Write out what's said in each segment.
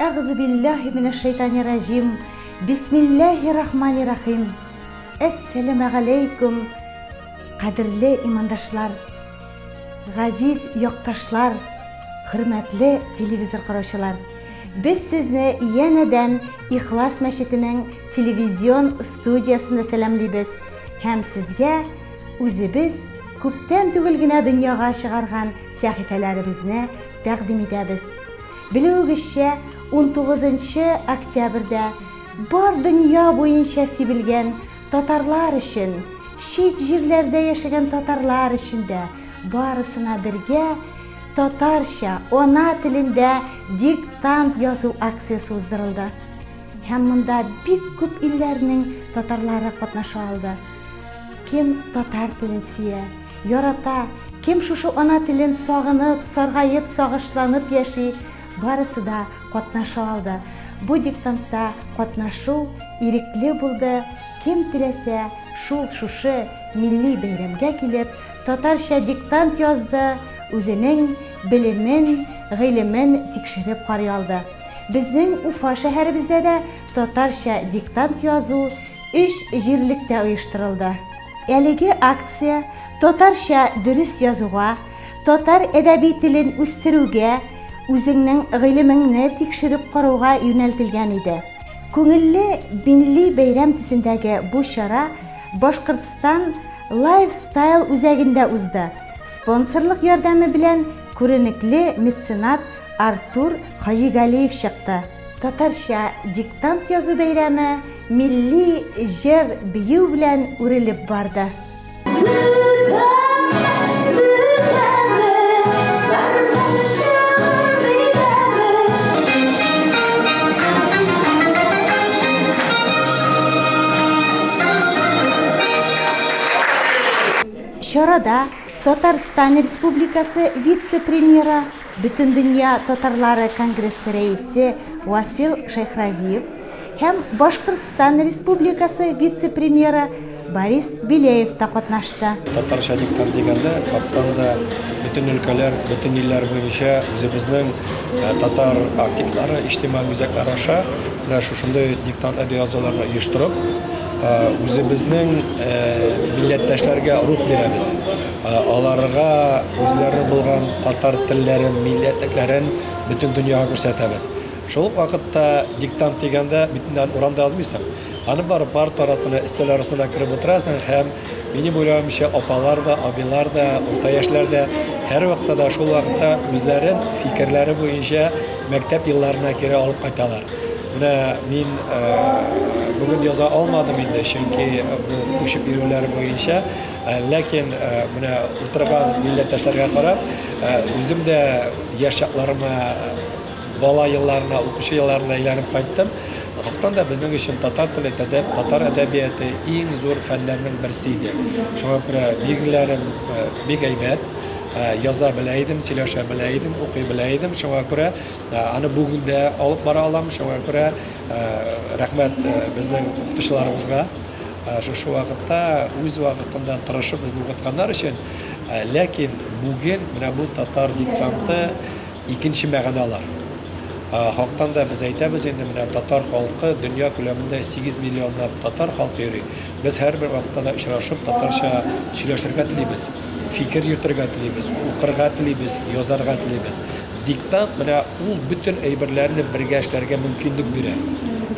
Әгъзубилляһи минәшшәйтани рәҗим, бисмилләһи рахмани рахим Әссәләмәгәләйкүм кадерле имандашлар, газиз якташлар, хөрмәтле телевизор караучылар! Без сезне янәдән Ихлас мәчетенең телевизион студиясендә сәламлибез һәм сезгә үзебез күптән түгел генә дөньяга чыгарган сәхифәләребезне тәкъдим итәбез. Белүегезчә, унтугызынчы октябрьдә бар дөнья буенча сибелгән татарлар өчен, чит җирләрдә яшәгән татарлар өчен дә барысына бергә татарча, ана телендә диктант язу акциясе уздырылды. Һәм монда бик күп илләрнең татарлары катнаша алды. Кем татар телен сөя, Ярата, кем шушы ана телен сагынып, саргаеп, сагышланып яши, барысы да катнаша алды. Бу диктантта катнашу ирекле булды, кем теләсә, шул шушы милли бәйрәмгә килеп, татарча диктант язды, үзенең белемен, гыйлемен тикшереп карый алды. Безнең Уфа шәһәребездә дә татарча диктант язу өч җирлектә оештырылды. Әлеге акция татарча дөрес язуга, татар әдәби телен үстерүгә, үзеңнең гыйлемеңне тикшереп карауга юнәлтелгән иде. Күңелле милли бәйрәм төсендәге бу чара Башкортстан Лайфстайл үзәгендә узды. Спонсорлык ярдәме белән күренекле меценат Артур Хаҗигалиев чыкты. Татарча диктант язу бәйрәме милли җыр бию белән үрелеп барды. Чарада Татарстан Республикасы вице-премьеры Бөтендөнья татарлары конгрессы рәисе Васил Шәйхразиев һәм Башкортстан Республикасы вице-премьеры Борис Беляев та катнашты. Татарча диктант дигәндә, шарттан да бөтен өлкәләр, бөтен илләр буенча үзебезнең татар активлары, иҗтимагый үзәкләр аша менә шушындый диктант әдәби язуларны оештырып, үзебезнең милләттәшләргә рух бирәбез. Аларга үзләре булган татар телләрен, милләтлекләрен бөтен дөньяга күрсәтәбез. Шул ук вакытта диктант дигәндә битеннән урамда язмыйсың. Аны барып парта арасына, өстәл арасына кереп утырасың һәм, минем уйлавымча, апалар да, абыйлар да, урта яшьләр дә һәрвакытта да шул вакытта үзләрен фикерләре буенча мәктәп елларына кире алып кайталар. Менә мин бүген яза алмадым инде, чөнки бу күчеп йөрүләр буенча Ләкин менә утырган милләттәшләргә карап, үзем дә яшь чакларыма, бала елларына, укучы елларына әйләнеп кайттым. Хактан да безнең өчен татар теле, татар әдәбияты иң зур фәннәрнең берсе иде. Шуңа күрә бигләрем бик әйбәт, яза белә идем, сөйләшә белә идем, укый белә идем. Шуңа күрә аны бүген дә алып бара алам. Шуңа күрә рәхмәт безнең укытучыларыбызга. Шушы вакытта үз вакытында тырышып без укытканнар өчен, ләкин бүген менә бу татар диктанты икенче мәгънә алар. Хактан да без әйтәбез инде, менә татар халкы дөнья күләмендә 8 миллионлап татар халкы йөри. Без һәрбер вакытта да очрашып татарча сөйләшергә телибез, фикер йөртергә телибез, укырга телибез, язарга телибез. Диктант менә ул бөтен әйберләрне бергә эшләргә мөмкинлек бирә.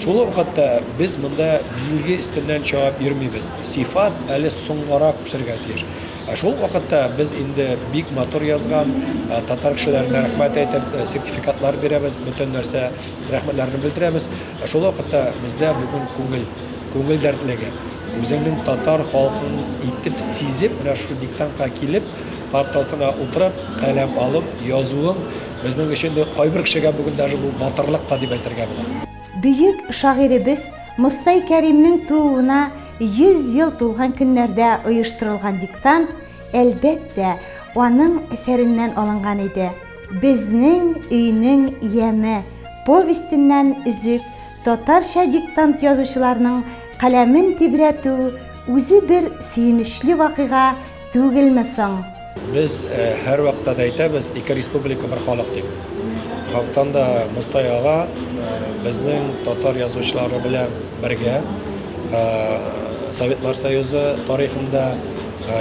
Шул ук вакытта без монда билге өстеннән чабып йөрмибез. Сыйфат әле соңгарак үсәргә тиеш. Ә шул ук вакытта без инде бик матур язган, татар кешеләренә рәхмәт әйтеп, сертификатлар бирәбез, бөтен нәрсә, рәхмәтләрне белдерәбез. Ә шул ук вакытта бездә бүген күңел, күңел дәртлеге. Үзеңнең татар халкың итеп сизеп, менә шушы диктантка килеп, партасына утырып, каләм алып язуым безнең өчен дә кайбер кешегә бүген даже бу батырлык та дип әйтергә була. Бөек шагыйребез Мостай Кәримнең тууына 100 ел тулган көннәрдә оештырылган диктант, әлбәттә, аның әсәреннән алынган иде. Безнең өйнең яме повестеннән өзек татарча диктант язучыларның каләмен тибрәтү үзе бер сөенечле вакыйга Түгелме соң? Без һәрвакытта да әйтәбез, ике республика бер халык дип. Хактан да Мостай ага безнең татар язучылары белән бергә Советлар Союзы тарихында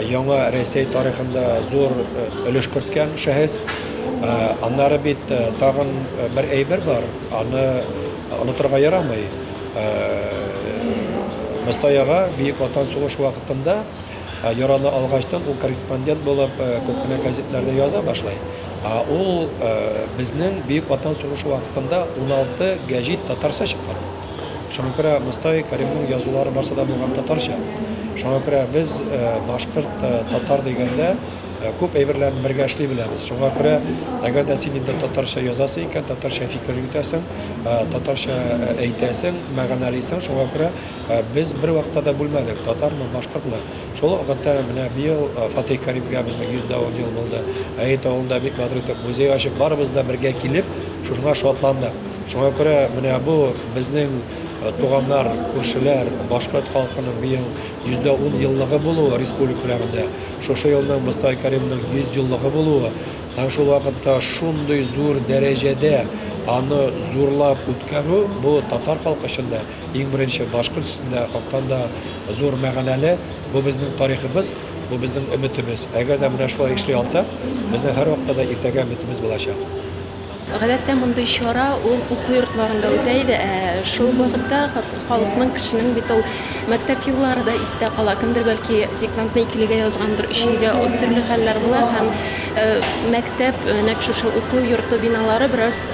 яңа Рәсәй тарихында зур өлеш керткән шәхес. Аннары бит тагын бер әйбер бар, аны онытырга ярамый. Мостай ага Бөек Ватан сугышы вакытында Ә яраны алгачтан ул корреспондент булып э, күп кенә газетләрдә яза башлый. Ә ул э, безнең Бөек Ватан сугышы вакытында 16 гәҗит татарча чыккан. Шуңа күрә Мостай Кәримнең язулары барсы да булган татарча. Шуңа күрә без э, башкорт, э, татар дигәндә э, күп әйберләрне бергә эшли беләбез. Шуңа күрә әгәр дә син инде татарча язасың икән, татарча фикер йөртәсең, э, татарча э, әйтәсең, мәгънәлисең, шуңа күрә Без бер вакытта да бүлмәдек, татармы, башкортмы. Шул вакытта менә быел Фатих Каримгә безнең 110 ел булды. Әйт авылында бик матур итеп музей ачып, барыбыз да бергә килеп, шуңа шатландык. Шуңа күрә менә бу безнең туганнар, күршеләр, башкорт халкының быел 110 еллыгы булуы республика күләмендә, шушы елның Мостай Каримның 100 еллыгы булуы һәм шул вакытта шундый зур дәрәҗәдә аны зурлап үткәрү, бу татар халкы өчен дә, Иң беренче башкорт өстендә хактан да зур мәгънәле, бу безнең тарихыбыз, бу безнең өметебез. Әгәр дә менә шулай эшли алсак, безнең һәрвакытта да иртәгә өметебез булачак. Гадәттә мондый чара ул уку йортларында үтә иде, ә шул вакытта халыкның, кешенең бит ул мәктәп еллары да истә кала. Кемдер бәлки диктантны икелегә язгандыр, өчлегә, төрле хәлләр була һәм мәктәп, нәкъ шушы уку йорты биналары бераз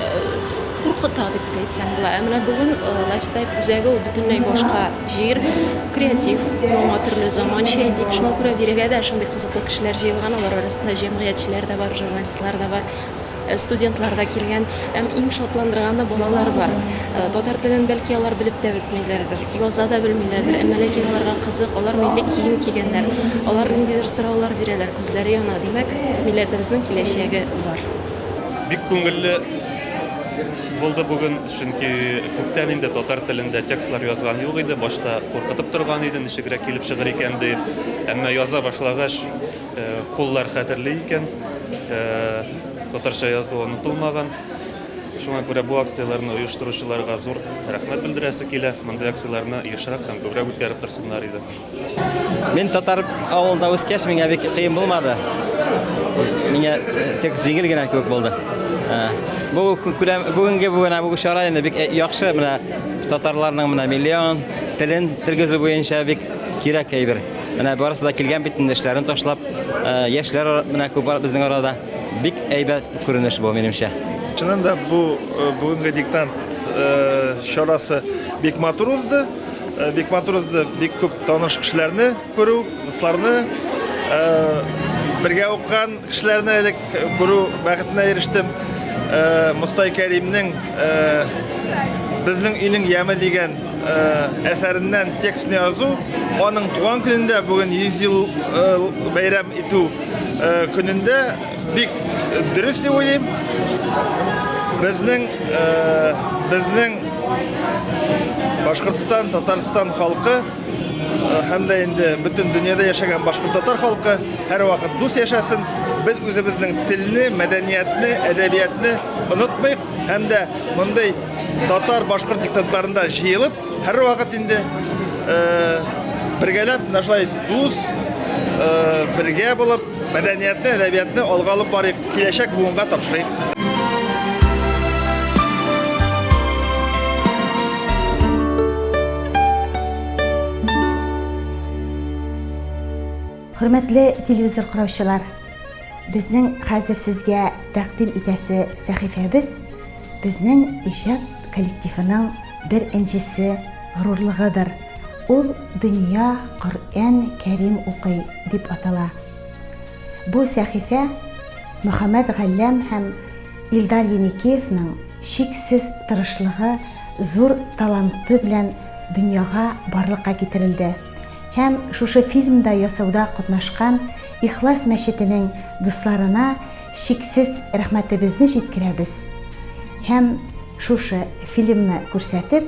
куркыта дип тә әйтсәң була. Ә менә бүген Лайфстайл үзәге ул бөтенләй башка җир, креатив, яңа төрле заманча әйтик. Шуңа күрә бирегә дә шундый кызыклы кешеләр җыелган, алар арасында җәмгыятьчеләр дә бар, журналистлар да бар э, студентлар да килгән һәм иң шатландырганы балалар бар э, татар телен бәлки алар белеп тә бетмиләрдер яза да белмиләрдер әмма ләкин аларга кызык алар милли кием кигәннәр алар ниндидер сораулар бирәләр күзләре яна димәк милләтебезнең киләчәге бар бик күңелле Булды бүген, чөнки күптән инде татар телендә текстлар язган юк иде. Башта куркытып торган иде, ничегрәк килеп чыгыр икән дип. Әмма яза башлагач, куллар хәтерли икән. Татарча язу онытылмаган. Шуңа күрә бу акцияләрне оештыручыларга зур рәхмәт белдерәсе килә. Мондый акцияләрне ешрак һәм күбрәк үткәреп торсыннар иде. Мин татар авылында үскәч, миңа бик кыен булмады. Миңа э, тек җиңел генә күк булды. Э, бу күләм бүгенге бүгенә бу чара инде бик э, яхшы менә татарларның менә миллион телен тергезү буенча бик кирәк әйбер. Менә барысы да килгән бит инде эшләрен ташлап, яшьләр менә күп бар безнең арада. Бик әйбәт күренеш бу минемчә. Чынында бу бүгенге диктант чарасы бик матур узды. Э, бик матур үзде, бик күп таныш кешеләрне күрү, дусларны, э, бергә укыган кешеләрне элек күрү бәхетенә ирештем. Э, Мостай Кәримнең безнең өйнең яме дигән әсәреннән текстны язу, аның туган көнендә бүген 100 ел бәйрәм итү көнендә Бик дөрес дип уйлыйм. Безнең э, безнең Башкортстан, Татарстан халкы э, һәм дә инде бөтен дөньяда яшәгән башкорт татар халкы һәр вакыт дус яшәсен. Без үзебезнең телне, мәдәниятне, әдәбиятны онытмыйк һәм дә мондый татар башкорт диктантларында җыелып һәр вакыт инде э, бергәләп, менә шулай дус, э, бергә булып Мәдәниятне, әдәбиятны алга алып барыйк, киләчәк буынга тапшырыйк. Хөрмәтле телевизор караучылар, безнең хәзер сезгә тәкъдим итәсе сәхифәбез безнең иҗат коллективының бер энҗесе, горурлыгыдыр. Ул Дөнья Коръән Кәрим укый дип атала. Бу сәхифә Мөхәммәт Галләм һәм Илдар Еникеевның чиксез тырышлыгы, зур таланты белән дөньяга барлыкка китерелде һәм шушы фильмда ясауда катнашкан Ихлас мәчетенең дусларына чиксез рәхмәтебезне җиткерәбез һәм шушы фильмны күрсәтеп,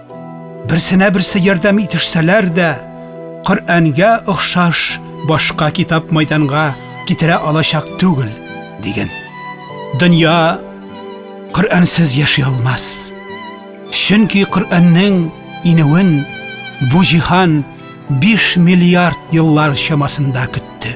Берсенә берсе ярдәм итешсәләр дә, Коръәнгә охшаш башка китап майданга китерә алачак түгел, диген. Дөнья Коръәнсез яши алмас. Чөнки Коръәннең инүен бу җиһан 5 миллиард еллар чамасында көтте.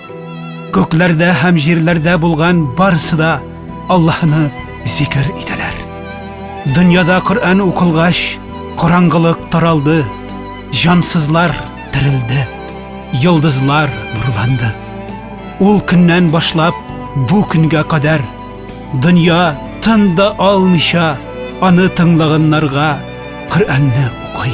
Күкләрдә һәм җирләрдә булган барысы да Аллаһны зикер итәләр. Дөньяда Коръән укылгач, караңгылык таралды, җансызлар терелде, йолдызлар нурланды. Ул көннән башлап бу көнгә кадәр дөнья тын да алмыйча аны тыңлаганнарга Коръәнне укый.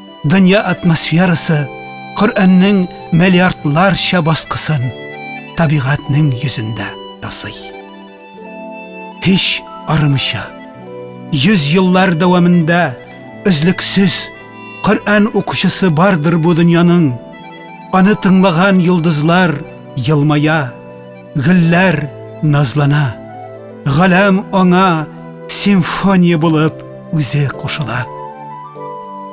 Дөнья атмосферасы Коръәннең миллиардларча баскысын табигатьнең йөзендә ясый. Һич арымыйча, йөз еллар дәвамында өзлексез Коръән укучысы бардыр бу дөньяның. Аны тыңлаган йолдызлар елмая, Гөлләр назлана, галәм аңа симфония булып үзе кушыла.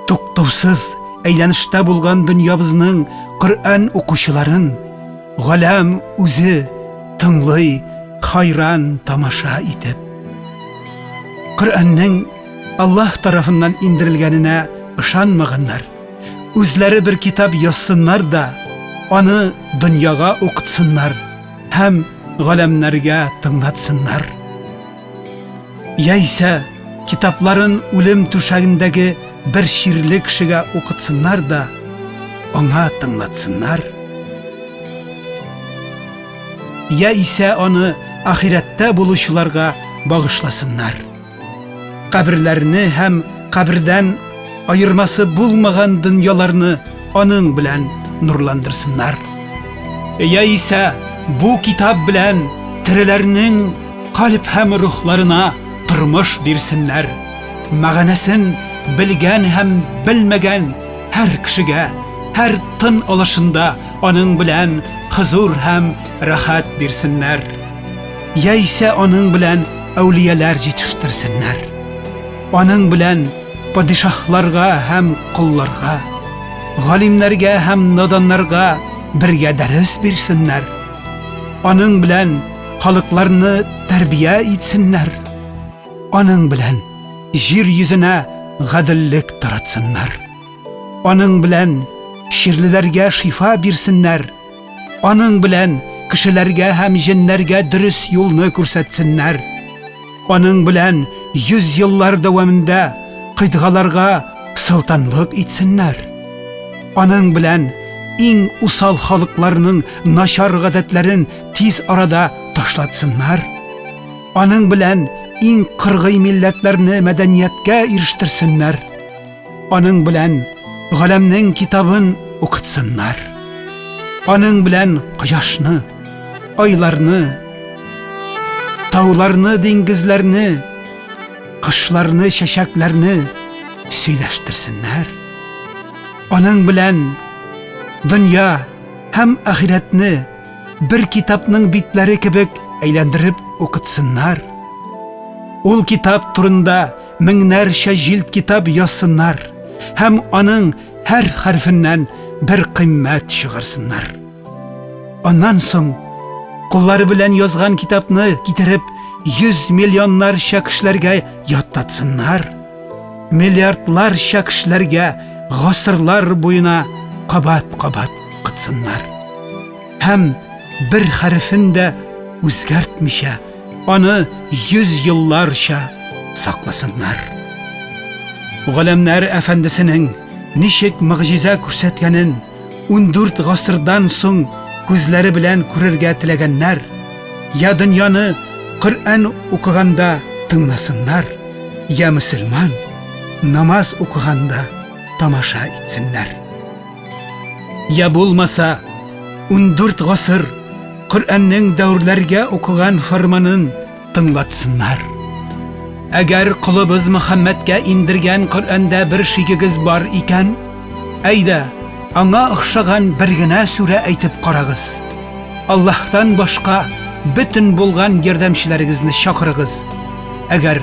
Туктаусыз әйләнештә булган дөньябызның Коръән укучыларын галәм үзе тыңлый, хайран тамаша итеп. Коръәннең Аллаһ тарафыннан индерелгәненә ышанмаганнар. Үзләре бер китап язсыннар да, аны дөньяга укытсыннар һәм галәмнәргә тыңлатсыннар. Яисә китапларын үлем түшәгендәге бер чирле кешегә укытсыннар да, аңа тыңлатсыннар. Яисә аны ахирәттә булучыларга багышласыннар. Каберләрне һәм кабердән аермасы булмаган дөньяларны аның белән нурландырсыннар. Яисә бу китап белән тереләрнең калп һәм рухларына тормыш бирсеннәр. Мәгънәсен белгән һәм белмәгән һәр кешегә, һәр тын алышында аның белән хозур һәм рәхәт бирсеннәр. Яисә аның белән әүлияләр җитештерсеннәр. Аның белән падишаһларга һәм колларга, галимнәргә һәм наданнарга бергә дәрес бирсеннәр. Аның белән халыкларны тәрбия итсеннәр. Аның белән җир йөзенә гаделлек таратсыннар. Аның белән чирлеләргә шифа бирсеннәр Аның белән кешеләргә һәм җеннәргә дөрес юлны күрсәтсеннәр. Аның белән йөз еллар дәвамында кыйтгаларга солтанлык итсеннәр. Аның белән иң усал халыкларның начар гадәтләрен тиз арада ташлатсыннар. Аның белән иң кыргый милләтләрне мәдәнияткә ирештерсеннәр. Аның белән галәмнең китабын укытсыннар. Аның белән кояшны, айларны, тауларны, диңгезләрне, кышларны, чәчәкләрне сөйләштерсеннәр. Аның белән дөнья һәм ахирәтне бер китапның битләре кебек әйләндереп укытсыннар. Ул китап турында меңнәрчә җилд китап язсыннар һәм аның һәр хәрфеннән бер кыйммәт чыгарсыннар. Аннан соң куллары белән язган китапны китереп 100 миллионнарча кешеләргә яттатсыннар. Миллиардларча кешеләргә гасырлар буена кабат-кабат кытсыннар. Һәм бер хәрефен дә үзгәртмичә Аны йөз елларча сакласыннар. Галәмнәр әфәндесенең ничек мөгъҗиза күрсәткәнен 14 гасырдан соң күзләре белән күрергә теләгәннәр, я дөньяны Коръән укыганда тыңласыннар, я мөселман намаз укыганда тамаша итсеннәр. Я булмаса, 14 гасыр Коръәннең дәүрләргә укыган форманын тыңлатсыннар. Әгәр колыбыз Мөхәммәдкә индергән Коръәндә бер шигегез бар икән, әйдә, аңа охшаган бер генә сүрә әйтеп карагыз. Аллаһтан башка бөтен булган ярдәмчеләрегезне чакырыгыз. Әгәр